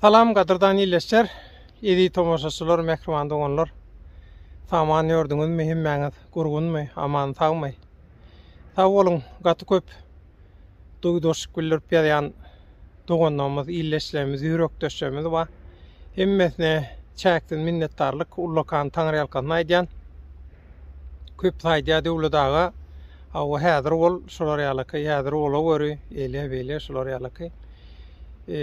Salam gadyrdan ýilleşjer, ýedi tomaşaçylar, mähriban doganlar. Saman ýördüňizmi hemmäňiz? Gurgunmy, aman sagmy? Sag boluň, gaty köp duýdanşyk bildirip ýazýan doganlarymyz, ýilleşlerimiz, ýürekdeşlerimiz bar. Hemmesine çäksiz minnetdarlyk, ullakan taňryýalkasyn aýdýan. köp saýdýa Döwlet aga. Hawa häzir ol şular ýalaky, häzir ola göri, eýle, beýle şular ýalaky. E,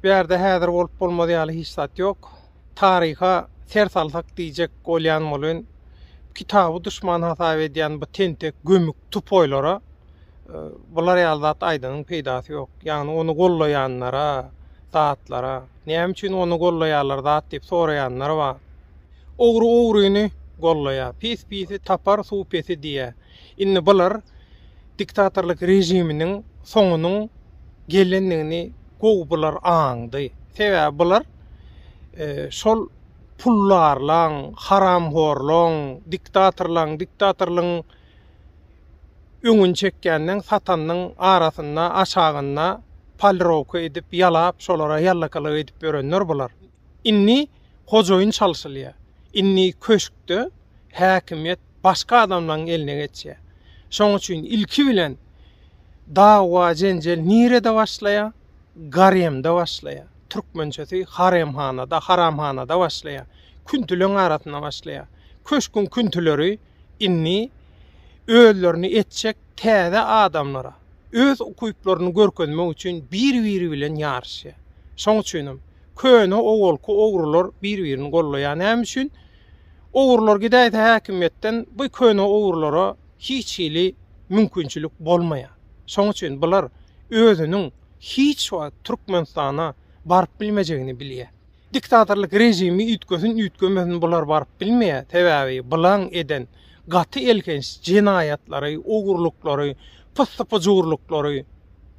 bu ýerde häzir bolup bolmaz ýaly hiç zat ýok. Taryha ser salsak diýjek bolýan bolun. Kitaby düşman hasap edýän bu tentek gömük tupoýlara e, bular ýaly zat aýdanyň peýdasy ýok. Ýagny ony gollaýanlara, zatlara, näme üçin ony gollaýarlar zat diýip soraýanlar bar. Ogry ogryny gollaýar, pis pisi tapar suw pesi diýýär. Indi bular diktatorlyk režiminiň soňunyň gelendigini gowy bular aňdy. Sebäbi bular şol pullarlaň, haramhorlaň, diktatorlaň, diktatorlygyň öňüni çekýänleň, satanynyň arasynda, aşagynda polirowka edip, ýalap, şolara ýallakalyk edip ýörenler bular. Indi hojaýyn çalşylýar. Indi köşkde häkimiýet başga adamlaryň eline geçýär. Şoň üçin ilki bilen dawa-jenjel nirede başlaýar? Garemde başlaýar. Türkmençesi haremhanada, haramhanada başlaýar. Küntüleň arasynda başlaýar. Köşküň küntüleri indi özlerini etjek täze adamlara, öz ukyplaryny görkezmek üçin bir-biri bilen ýaryşýar. Şoň üçinem Köne owalky ogrular bir birini gollaýa näme üçin ogrular gidäýse häkimiýetden bu köne ogrulara hiç hili mümkinçilik bolmaýa şoň üçin bular özüniň hiç wagt türkmenistana baryp bilmejegini bilýä diktatorlyk režimi üýtgesin üýtgemesin bular baryp bilmeýä sebäbi bulaň eden gaty elhenç jenaýatlary ogurlyklary pyssy pyjurlyklary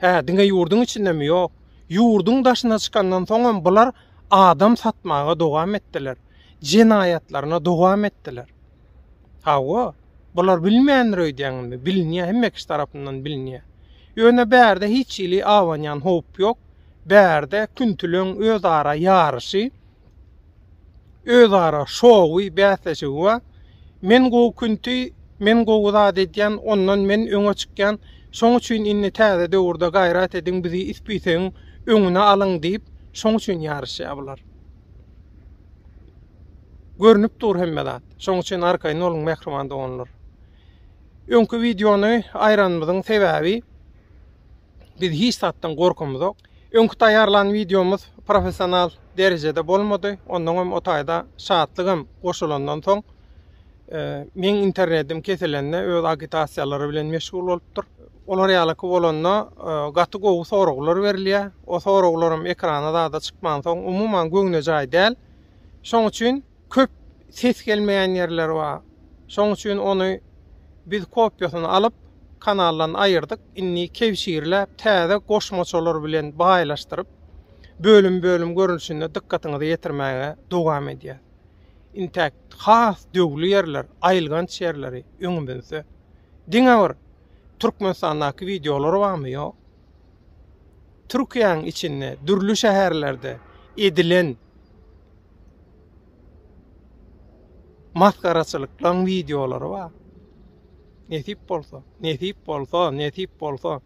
hä diňe ýurduň içindemi ýok. Ýurduň daşyna çykandan soňam bular adam satmaga dowam etdiler. Jenaýatlaryna dowam etdiler. Hawa, bular bilmändir öýdýäňizmi? Bilinýär, hemme kişi tarapyndan bilinýär. Ýöne bärde hiç hili abanýan howp ýok. Bärde küntileň özara ýaryşy, özara şowy, bäsleşigi bar. Men gowy künti, men gowy zat edýän, ondan men öňe çykýan, şoň üçin indi täze döwürde gaýrat ediň, bizi ispisegin öňüne alyň diýip, şoň üçin ýaryşýar bular. Görnüp dur hemme zat. Şoň üçin arkaýyn boluň mähriban doganlar. Öňki wideony aýranymyzyň sebäbi Biz hiç zatdan gorkumyzok. Öňki taýýarlan wideomyz professional derejede bolmady. Onnoň hem o taýda Şatlyk hem goşulandan soň meň internetim kesilende öz agitasiýalary bilen meşgul bolupdyr. Olar ýalyky bolanda gaty gowy soraglar berilýär. O soraglarym ekrana zada çykmansoň umuman göwnejaý däl. Şoň üçin Köp ses gelmeýän ýerleri bar. Şoň üçin ony biz kopiýasyny alyp, kanaldan aýyrdyk. Indi kebşirläp, täze goşmaçalar bilen baýlaşdyryp, bölüm-bölüm görnüşinde dykgatyňyza ýetirmäge dowam edýäs. Intäk has döwli ýerler, aýylganç ýerleri öňümizde. Diňe bir Türkmenistandaky wideolar barmy? Ýok. Türkiýäň içinde, dürli şäherlerde edilen masgaraçylyklaryň wideolary bar. Nesip bolsa, nesip bolsa, nesip bolsa.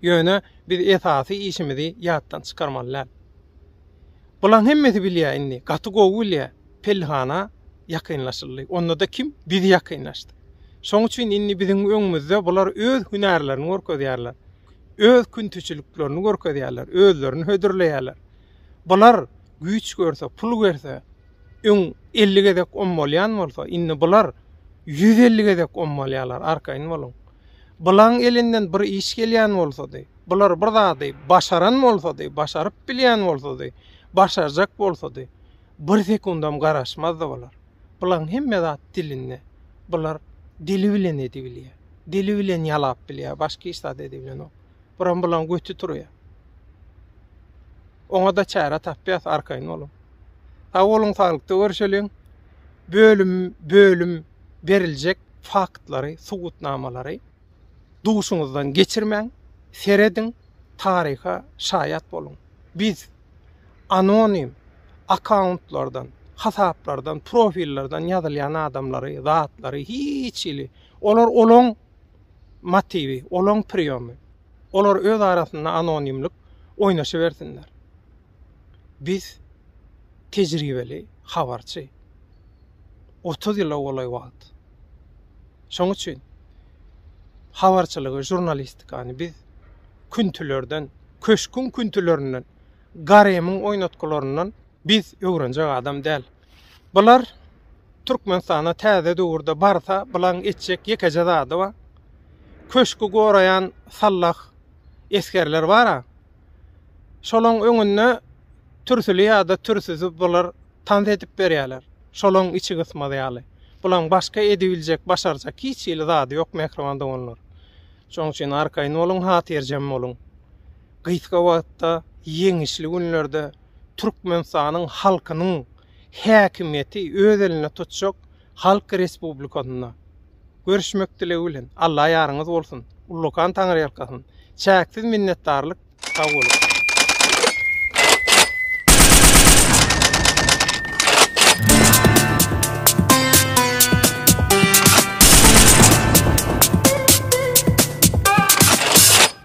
Ýöne biz esasy işimizi ýatdan çykarmaly däl. Bularyň hemmesi bilýär indi, gaty gowy bilýär. Pellihana ýakynlaşyldy. Onda-da kim? Biz ýakynlaşdyk. Şoň üçin indi biziň öňümizde bular öz hünärlerini görkezýärler. Öz küntiçiliklerini görkezýärler, özlerini hödürleýärler. Bular güýç görse, pul görse, öň elli gezek ommalýan bolsa, indi bular ýüz elli gezek ommalýarlar, arkaýyn boluň. Bularyň elinden bir iş gelýän bolsady, bular bir zady başaran bolsady, başaryp bilýän bolsady, başarjak bolsady, bir sekundam garaşmazdy bular. Bularyň hemme zat dilinde. Bular dili bilen edibilýär. Dili bilen ýalap bilýär, başga hiç zat edibilenok. Buram bularyň göti turýar. Oňada çäre tapýas arkaýyn boluň. Sag boluň saglykda görşeliň. Bölüm bölüm beriljek faktlary, subutnamalary duşuňyzdan geçirmäň, serediň, taryha şaýat boluň. Biz anonim akkauntlardan, hasaplardan, profillerden ýazylýan adamlary, zatlary hiç hili olar olaň motiwi, olaň priýomy. Olar öz arasynda anonimlik oýnaşybersinler. Biz tejribeli habarçy. Otuz ýyla golaý wagt. Şoň üçin habarçylygy, žurnalistikany biz küntilerden, köşgüň küntilerinden, garemyň oýnatgylaryndan biz öwrenjek adam däl. Bular Türkmenistanda täze döwürde barsa bulaň etjek ýekeje zady bar. Köşki goraýan sallah esgerler bar-a. Şolaň öňünde türsüli ýa-da türsüzi bular tans edip berýärler. Şolaň içi gysmaz ýaly. Bulaň başga edibiljek, başarjak hiç hili zady ýok mähriban doganlar. Şoň üçin arkaýyn boluň, hatyrjem boluň. Gysga wagtda ýeňişli günlerde Türkmenistanyň halkynyň häkimiýeti öz elinde tutjak Halk Respublikasynda görüşmek dilegi bilen. Alla ýaryňyz bolsun. Ullakan Taňryýalkasyn. Çäksiz minnetdarlyk. Sag boluň.